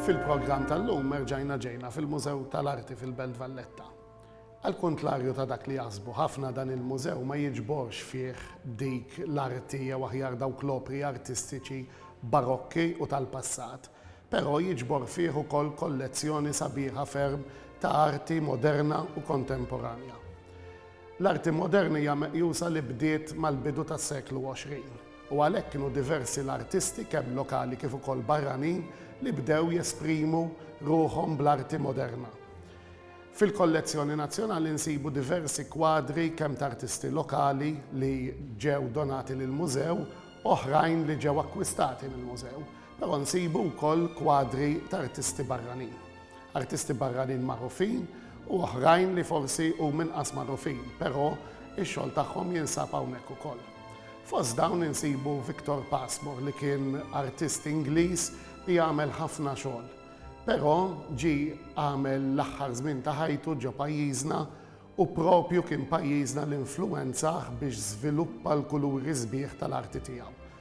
Fil-programm tal-lum merġajna ġejna fil-Mużew tal-Arti fil-Belt Valletta. Al kontlarju ta' dak li jasbu ħafna dan il-mużew ma jiġborx fih dik l-arti jew aħjar dawk l-opri artistiċi barokki u tal-passat. però jiġbor fih ukoll kollezzjoni sabiħa ferm ta' arti moderna u kontemporanja. L-arti moderna hija meqjusa li bdiet mal-bidu tas-seklu 20, u għalhekk kienu diversi l-artisti kemm lokali kif ukoll barranin li bdew jesprimu ruħhom bl-arti moderna. Fil-kollezzjoni nazzjonali nsibu diversi kwadri kemm ta' artisti lokali li ġew donati lill-Mużew, oħrajn li ġew akkwistati mill-Mużew. Però nsibu wkoll kwadri ta' artisti barranin. Artisti barranin magħrufin u oħrajn li forsi huma inqas magħrufin, però x-xogħol tagħhom jinsab hawnhekk ukoll. Fost dawn insibu Victor Passmore li kien artist Ingliż li għamel ħafna xogħol, però ġie għamel l-aħħar żmien ta' ħajtu ġo pajjiżna u proprju kien pajjiżna li influwenzah biex żviluppa l-kuluri sbieħ tal-arti tiegħu.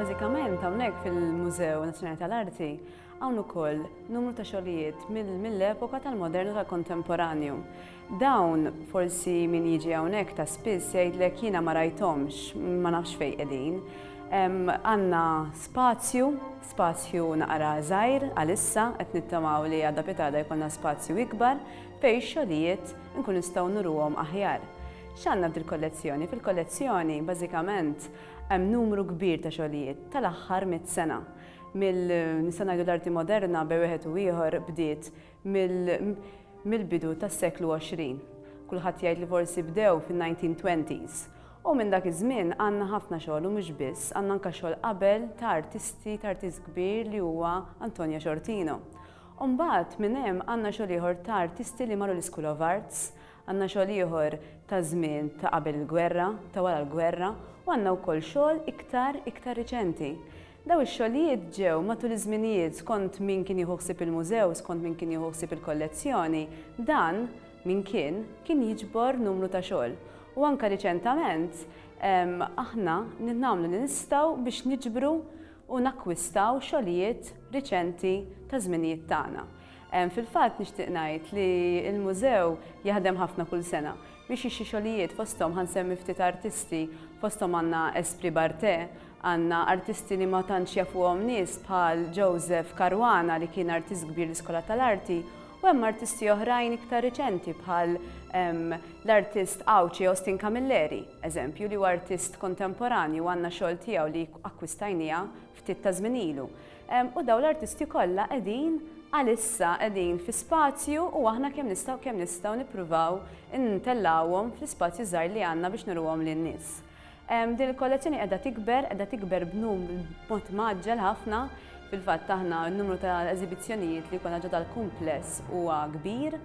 Bażikament hawnhekk fil-Mużew Nazzjonali tal-Arti hawn ukoll numru ta' xogħlijiet mill-epoka tal-modernu tal-kontemporanju. Dawn, forsi min jiġi hawnhekk ta' spiss jgħidlek jiena ma rajthomx, ma nafx fejn qegħdin. Għandna spazju, spazju naqra żgħir għalissa, qed nittamaw li għada pitada jkollna spazju ikbar fejn x-xogħlijiet inkunu nistgħu nuruhom aħjar. X'għandna f'dil-kollezzjoni? Fil-kollezzjoni, bażikament, hemm numru kbir ta' xogħlijiet tal-aħħar mitt sena. Mill, nista' ngħidu l-arti moderna bejn wieħed u ieħor bdiet mill-bidu tas-seklu 20. Kulħadd jgħid li forsi bdew fin-1920s. U minn dak iż-żmien għandna ħafna xogħol u mhux biss, għandna anke xogħol qabel ta' artisti, ta' artist kbir li huwa Antonio Ciortino. U mbagħad minn hemm għandna xogħol ieħor ta' artisti li marru l-Ischool of Arts, għandna xogħol ieħor ta' żmien ta' qabel il-gwerra, ta' wara l-gwerra, u għandna wkoll xogħol iktar, iktar riċenti. Dawn ix-xogħlijiet ġew, matul iż-żminijiet, skont min kien jieħu ħsieb il-mużew, skont min kien jieħu ħsieb il-kollezzjoni, dan, min kien, kien jiġbor numru ta' xogħol. U anke riċentament, aħna nagħmlu li nistgħu biex niġbru u nakkwistaw xogħlijiet riċenti taż-żminijiet tagħna. Fil-fatt nixtieq ngħid li l-mużew jaħdem ħafna kull sena. Biex ixi xogħlijiet fosthom ħa nsemmi ftit artisti, fosthom għandna Esprit Barthé, għandna artisti li ma tantx jafuhom nies bħal Joseph Caruana li kien artist kbir l-Iskola tal-Arti u hemm artisti oħrajn iktar riċenti bħal l-artist Għawdxi Austin Camilleri, eżempju, li huwa artist kontemporanju u għandna xogħol tiegħu li akkwistajniha ftit ta' żmien ilu. U dawn l-artisti kollha qegħdin għalissa qegħdin fi spazju u aħna kemm nistgħu kemm nistgħu nippruvaw intellgħuhom fl-ispazju żgħir li għandna biex nuruhom lin-nies. Din il-kollezzjoni qiegħda tikber, qiegħda tikber b'mod mgħaġġel ħafna. Fil-fatt aħna n-numru ta' eżibizzjonijiet li jkollna ġodha l-kumpless huwa kbir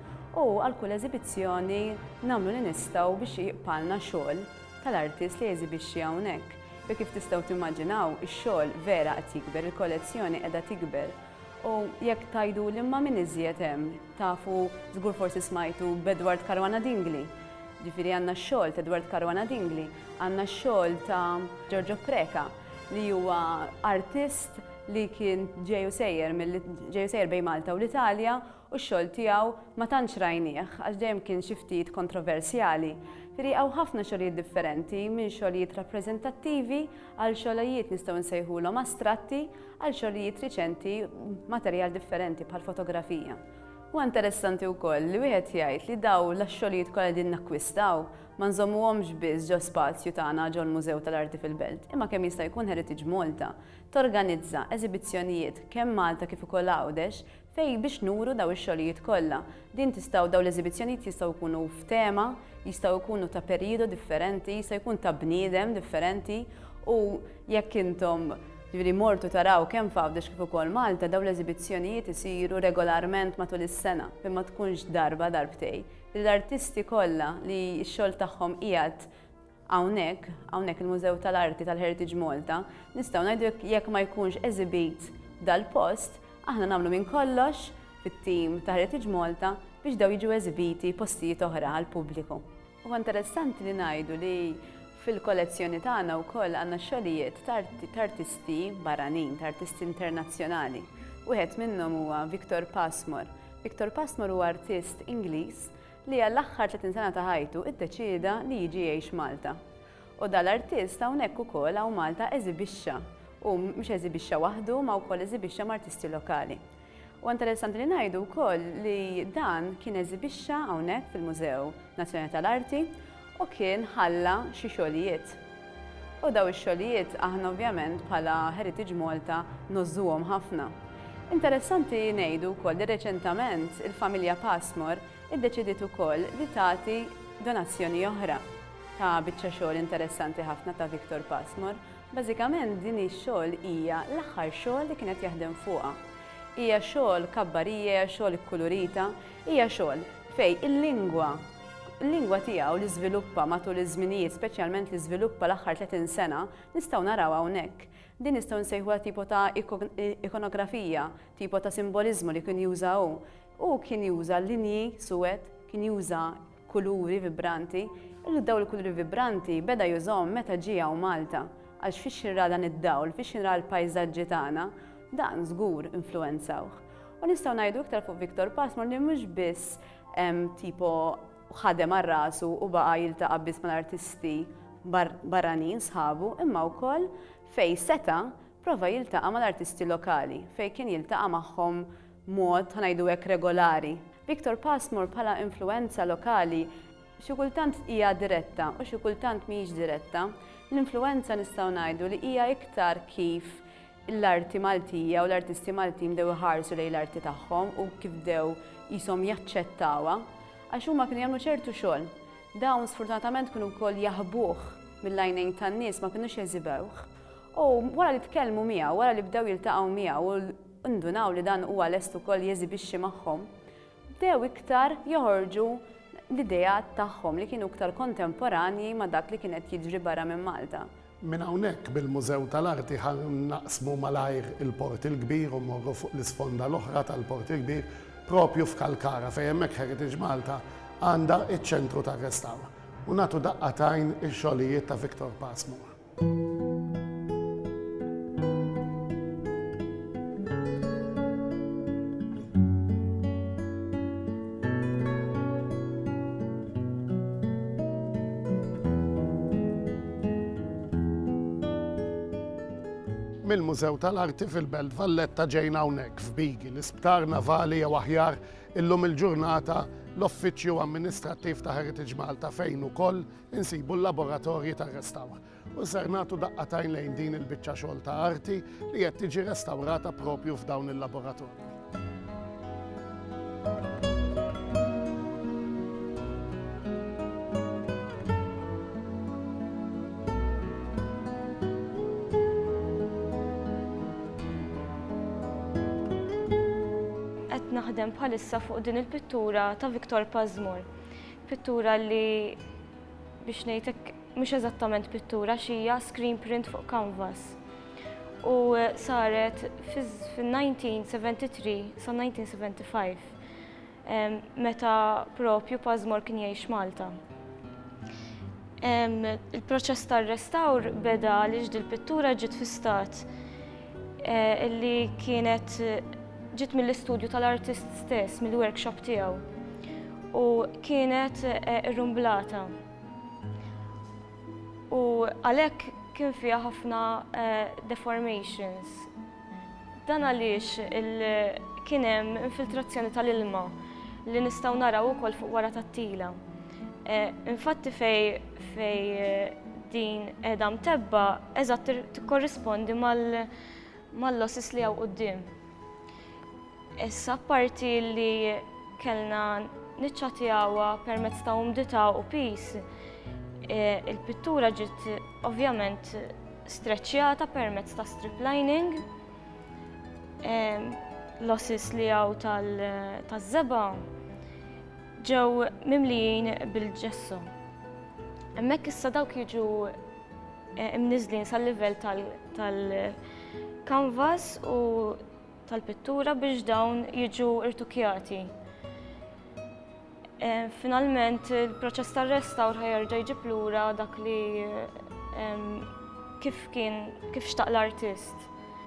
u għal kull eżibizzjoni nagħmlu li nistgħu biex jibqalna xogħol tal-artist li jeżibixxi hawnhekk. U kif tistgħu timmaġinaw, ix-xogħol vera qed jikber, il-kollezzjoni qiegħda tikber. U jekk tgħiduli imma min iżjed hemm, tafu żgur forsi smajtu b'Edward Caruana Dingli. Ġifieri għandna x-xogħol t'Edward Caruana Dingli, għandna x-xogħol ta' Giorgio Preca li huwa artist li kien ġej u sejjer milli ġej u sejjer bejn Malta u l-Italja, u x-xogħol tiegħu ma tantx rajnieh għax dejjem kien xi ftit kontroversjali. Rieqgħu ħafna xogħlijiet differenti, minn xogħlijiet rappreżentattivi għal xogħlojiet nistgħu nsejħulhom astratti għal xogħlijiet riċenti b'materjal differenti bħal fotografija. Huwa interessanti wkoll li wieħed jgħid li dawn lax-xogħlijiet kollha li qegħdin nakkwistaw ma nżommuhomx biss ġo spazju tagħna ġol-Mużew tal-Arti fil-Belt imma kemm jista' jkun Heritage Malta torganizza eżibizzjonijiet kemm Malta kif ukoll Għawdex Fej biex nuru dawn ix-xogħlijiet kollha. Din tistgħu dawn l-eżibizzjonijiet jistgħu jkunu f'tema, jistgħu jkunu ta' perijodu differenti, jista' jkun ta' bniedem differenti u jekk intom ġifieri mortu taraw kemm f'Għawdex kif ukoll Malta dawn l-eżibizzjonijiet isiru regolarment matul is-sena fejn ma tkunx darba darbtej li l-artisti kollha li x-xogħol tagħhom qiegħed Hawnhekk, hawnhekk il-Mużew tal-Arti tal-Heritage Malta, nistgħu ngħidu jekk jekk ma jkunx eżibit f'dal-post, aħna nagħmlu minn kollox fit-tim ta' Heritage Malta biex dawn jiġu eżibiti postijiet oħra għall-pubbliku. Huwa interessanti li ngħidu li fil-kollezzjoni tagħna wkoll għandna xogħlijiet ta' ta' artisti barranin, ta' artisti internazzjonali. Wieħed minnhom huwa Victor Passmore. Victor Passmore huwa artist Ingliż li għall-aħħar 30 sena ta' ħajtu iddeċieda li jiġi jgħix Malta. U da l-artist hawnhekk ukoll hawn Malta eżibixxa, u mhux eżibixxa waħdu ma wkoll eżibixxa m'artisti lokali. Huwa interessanti li ngħidu wkoll li dan kien eżibixxa hawnhekk fil-Mużew Nazzjonali tal-Arti, U kien ħalla xi xogħlijiet. U dawn ix-xogħlijiet aħna ovvjament bħala Heritage Malta ngħożżuhom ħafna. Interessanti ngħidu wkoll li reċentament il-familja Passmore iddeċidiet ukoll li tagħti donazzjoni oħra ta' biċċa xogħol interessanti ħafna ta' Victor Passmore. Bażikament din ix-xogħol hija l-aħħar xogħol li kien qed jaħdem fuqha. Hija xogħol kabbarija, hija xogħol ikkulurita, hija xogħol fejn il-lingwa, l-lingwa tiegħu li żviluppa matul iż-żminijiet, speċjalment li żviluppa l-aħħar 30 sena, nistgħu naraw hawnhekk. Din nistgħu nsejħuha tipo ta' ikonografija, tipo ta' simboliżmu li kien juża hu. Hu kien juża linji suwed, kien juża kuluri vibranti, u dawn il-kuluri vibranti beda jużahom meta ġie hawn Malta, għax fiex xi nra dan id-dawl, fiex xi nra l-pajżaġġi tagħna, dan żgur influwenzawh. U nistgħu ngħidu iktar fuq Victor Passmore li mhux biss tipo ħadem għal rasu u baqa' jiltaqa' biss mal-artisti barranin sħabu imma wkoll fejn seta' prova jiltaqa' mal-artisti lokali fejn kien jiltaqa' magħhom mod ħa ngħidu hekk regolari. Victor Passmore bħala influwenza lokali xi kultant hija diretta u xi kultant mhijiex diretta. L-influwenza nistgħu ngħidu li hija iktar kif l-arti Maltija u l-artisti Maltin bdew iħarsu lejn l-arti tagħhom u kif bdew qishom jaċċettawha għax huma kienu jagħmlu ċertu xogħol. Dawn sfortunatament kienu wkoll jaħbuh mill-għajnejn tan-nies ma kinux jeżibewh. U wara li tkellmu miegħu, wara li bdew jiltaqgħu miegħu u ndunaw li dan huwa lest ukoll jeżibixxi magħhom, bdew iktar joħorġu l-ideat tagħhom li kienu iktar kontemporanji ma' dak li kien qed jiġri barra minn Malta. Minn hawnhekk, bil-Mużew tal-Arti ħa naqsmu malajr il-Port il-Kbir u mmorru fuq l-isponda l-oħra tal-Port il-Kbir, proprju f'Kalkara, fejn hemmhekk Heritage Malta għandha ċ-Ċentru tar-Restawr, u nagħtu daqqa t'għajn il-xogħlijiet ta' Victor Passmore. mill-Mużew tal-Arti fil-Belt Valletta ġejna hawnhekk f'Bigi, l-Isptar Navali jew aħjar illum il-ġurnata l-Uffiċċju Amministrattiv ta' Heritage Malta fejn ukoll insibu l-laboratorji tar-restawr u ser nagħtu daqqatajn lejn din il-biċċa xogħol ta' arti li qed tiġi restawrata propju f'dawn il-laboratorji. naħdem bħalissa fuq din il-pittura ta' Victor Pazmur. Pittura li biex ngħidlek mhux eżattament pittura xija screen print fuq canvas. U saret fin-1973 sa 1975 meta propju Pazmor kien jgħix Malta. Il-proċess tar-restawr beda għaliex dil-pittura ġiet fi stat eh, illi kienet ġiet mill-istudju tal-artist stess, mill-workshop tiegħu. U kienet eh, irrumblata. U għalhekk kien fiha ħafna eh, deformations. Dan għaliex kien hemm infiltrazzjoni tal-ilma li nistgħu naraw ukoll fuq wara tat-tila. Eh, infatti fej fejn din qiegħda mtebbgħa eżatt tikkorrispondi mal-losses li hawn quddiem. Issa apparti li kellna niċċatjawha permezz ta' umdità u pis, eh, il-pittura ġiet ovvjament streċċjata permezz ta' strip lining, eh, losses li hawn tal-żeba' Ġew mimlijin bil-ġesso. Hemmhekk issa dawk jiġu eh, imniżlin sal-livell tal-kanvas u tal-pittura biex dawn jiġu irtukjati. Eh, finalment il-proċess tar-restawr ħajerġa' jġib lura dak li eh, kif kien kif xtaq l-artist.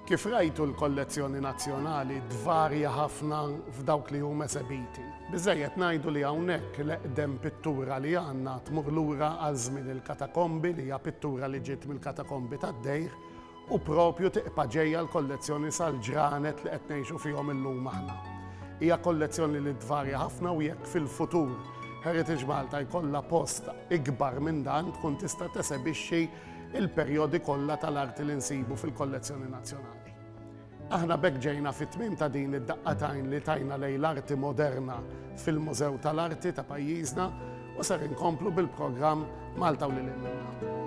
Kif rajtu l-kollezzjoni nazzjonali tvarja ħafna f'dawk li huma esebiti. Biżżejjed ngħidu li hawnhekk l-eqdem pittura li għandna tmur lura għal żmien il-katakombi li hija pittura li ġiet mill-katakombi tad-dejr u propju tibqa' ġejja l-kollezzjoni sal-ġranet li qed ngħixu fihom illum aħna. Hija kollezzjoni li tvarja ħafna u jekk fil-futur Heritage Malta jkollha post ikbar minn dan tkun tista' tesebixxi il-perjodi kollha tal-arti li nsibu fil-kollezzjoni nazzjonali. Aħna b'hekk ġejna fit-tmiem ta' din id-daqqa tajn li tajna lejn l-arti moderna fil-Mużew tal-Arti ta' pajjiżna u ser inkomplu bil-programm Malta u lil hinn minnha.